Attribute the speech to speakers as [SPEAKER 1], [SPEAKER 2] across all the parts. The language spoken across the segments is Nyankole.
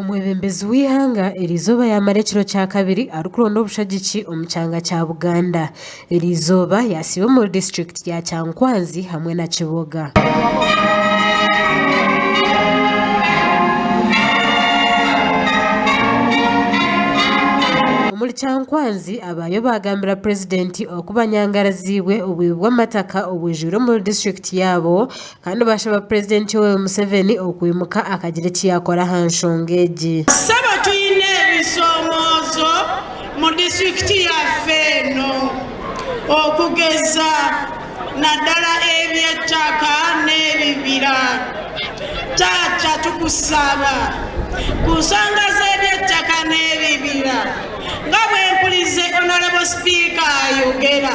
[SPEAKER 1] Omwebembezi w'eihanga eri izooba yaamara ekiro kya kabiri arikuronda obushagiki omu kyanga kya Buganda. Eri izooba yaasiiba omuri disiturikiti ya Kyankwanzi hamwe na Kiboga. Omuri Kyankwanzi abaayo baagambira purezidenti oku banyangaraziibwe obuibi bw'amataka obwijwire omuri disiturikiti yaabo Kandi baashaba Purezidenti Yoweri Museveni okwimuka akagira eki yaakora aha nshonga egi. Kusaba twine
[SPEAKER 2] ebishoomoozo mu disiturikiti yaife eno okugeza nadala eby'ettaka n'ebibira. Taata tukusaba ku nshonga z'eby'ettaka n'ebibira nga bwempurize Honourable Sipiika ayogera.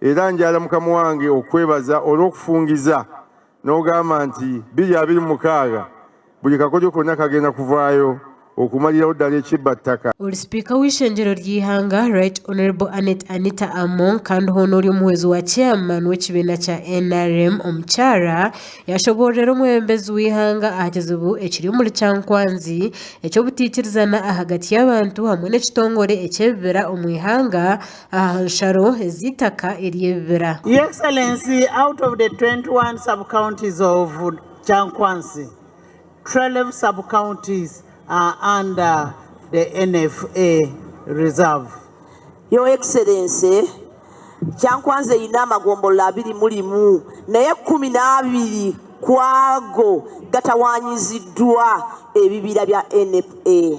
[SPEAKER 3] Era ngyara mukama wange okukwebaza orw'okufungiza n'ogamba nti, Biri abiri mukaaga, buri kakodyo kona kagenda kuvaayo okumaliraho dara ekibba ttaka. Ori sipiika w'eishengyero
[SPEAKER 1] ry'eihanga Right Honourable Annet Anita Among kandi hoona ori omuhwezi wa chairman w'ekibiina kya nrm omukyara, yashoboororera omwebembezi w'eihanga aha kizibu ekiri omuri kyankwanzi eky'obutaikirizana ahagati y'abantu hamwe n'ekitongore eky'ebibira omu ihanga, aha nsharo ez'eitaka ery'ebibira. Your Excellency,
[SPEAKER 4] out of the 21 sub-counties of Kyankwanzi, 12 sub-counties are under the NFA reserve. Your
[SPEAKER 5] Excellency, Kyankwanzi eine amagombolola abiri mulimu nayo ekumi n'abiri ku ago gatawaanyiziddwa ebibira bya NFA.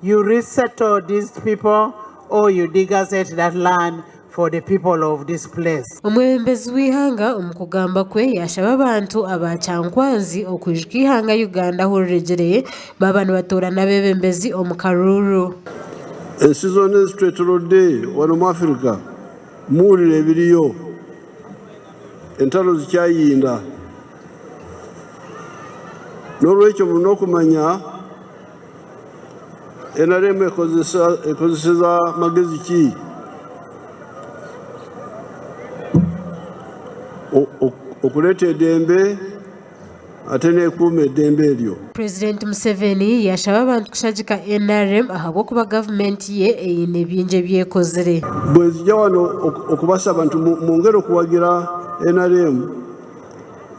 [SPEAKER 4] You resettle these people or you degazzette that land for the people of this place. Omwebembezi w'eihanga
[SPEAKER 1] omu kugamba kwe yashaba abantu aba Kyankwanzi okwijuka eihanga Uganda ahu riregire baaba nibatoorana abebembezi omu karuuru. Ensi
[SPEAKER 6] zoona ezitwetorodde wanu omu Afirika muwulire ebiriyo, entaro zikyayinda, norwekyo murina okumanya. NRM ekozeseza magezi ki okureeta edembe ate n'ekuuma edembe eryo? Purezidenti Museveni
[SPEAKER 1] yaashaba abantu kushagika NRM ahabw'okuba gavumenti ye eine bingi ebi ekozire. Bwenzija wano
[SPEAKER 6] okubasaba nti mwongere kuwagira NRM,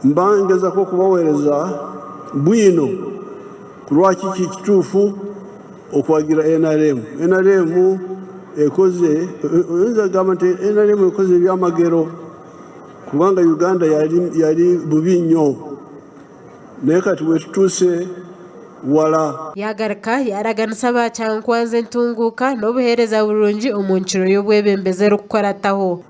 [SPEAKER 6] mba ningezaho kubaweereza bwino. Kurwaki kiri kituufu okuhagira nrm? Nrm ekoze, oyinza kugamba nti nrm ekoze ebyamagero kubanga Uganda yari yari bubi nyo. Naye kati bwe tutuuse wala. Yaagaruka
[SPEAKER 1] yaaraganisa ba kyankwanzi entunguuka n'obuheereza burungi omu nkiro y'obwebembezi erikukurataho.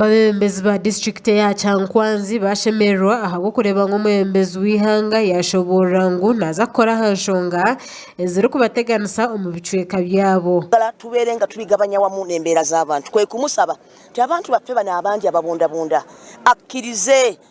[SPEAKER 6] Abebembezi ba
[SPEAKER 1] disiturikiti eya Kyankwanzi baashemererwa ahabw'okureeba ngu omwebembezi w'eihanga yaashoboorora ngu naaza kukora aha nshonga ezirikubateganisa omu bicweka byabo. Twamara tubeere nga
[SPEAKER 5] turigabanya wamu n'embeera z'abantu, kwe kumusaba nti abantu baffe banu abangi ababundabunda akkirize